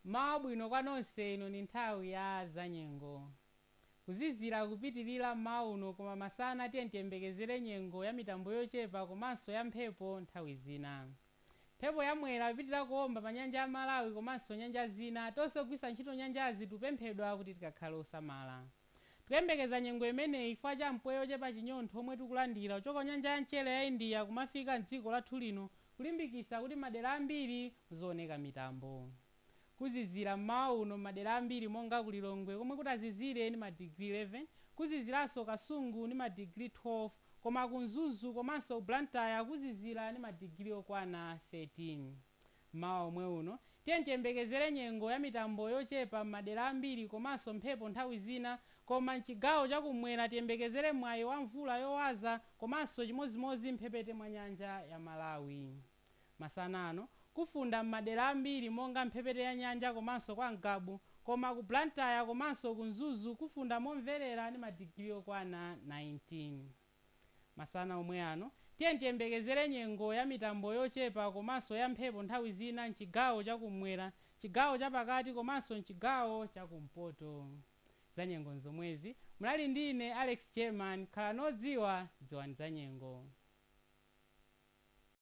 Mmawa wabwino kwa nonse, ino ndi nthawi ya zanyengo. Kuzizira kupitilira mmawa uno koma masana tiyeni tiyembekezere nyengo ya mitambo yochepa komanso ya mphepo nthawi zina. Mphepo ya Mwera ipitilira kuomba pa nyanja ya Malawi komanso nyanja zina, tonse ogwiritsa ntchito nyanjazi tikupemphedwa kuti tikakhale osamala. Tikuyembekeza nyengo imeneyi chifukwa cha mpweya ochepa chinyontho omwe tikulandira kuchoka kunyanja ya mchere ya India kumafika mdziko lathu lino kulimbikisa kuti madera ambiri muzooneka mitambo. Kuzizira mmawa uno mmadera ambiri monga ku Lilongwe komwe kutazizire ndi ma degree 11, kuziziranso Kasungu ndi ma degree 12 koma ku Mzuzu komanso ku Blantyre kuzizira ndi ma degree okwana 13. Mmawa omwe uno, tiyeni tiyembekezere nyengo ya mitambo yochepa m'madera ambiri komanso mphepo nthawi zina koma m'chigawo cha kum'mwera tiyembekezere mwayi wa mvula yowaza komanso chimodzimodzi m'mphepete mwa nyanja ya Malawi. Masana ano, kufunda m'madera ambiri monga m'mphepete ya nyanja komanso kwa Ngabu koma ku Blantyre komanso ku Mzuzu kufunda momverera ndi madigiri okwana 19. Masana omwe ano, tiyeni tiyembekezere nyengo ya mitambo yochepa komanso ya mphepo nthawi zina m'chigawo cha kum'mwera, m'chigawo cha pakati komanso m'chigawo cha kumpoto. Za nyengo n'zomwezi. Munali ndi ine, Alex German. Khalani odziwa, dziwani za nyengo.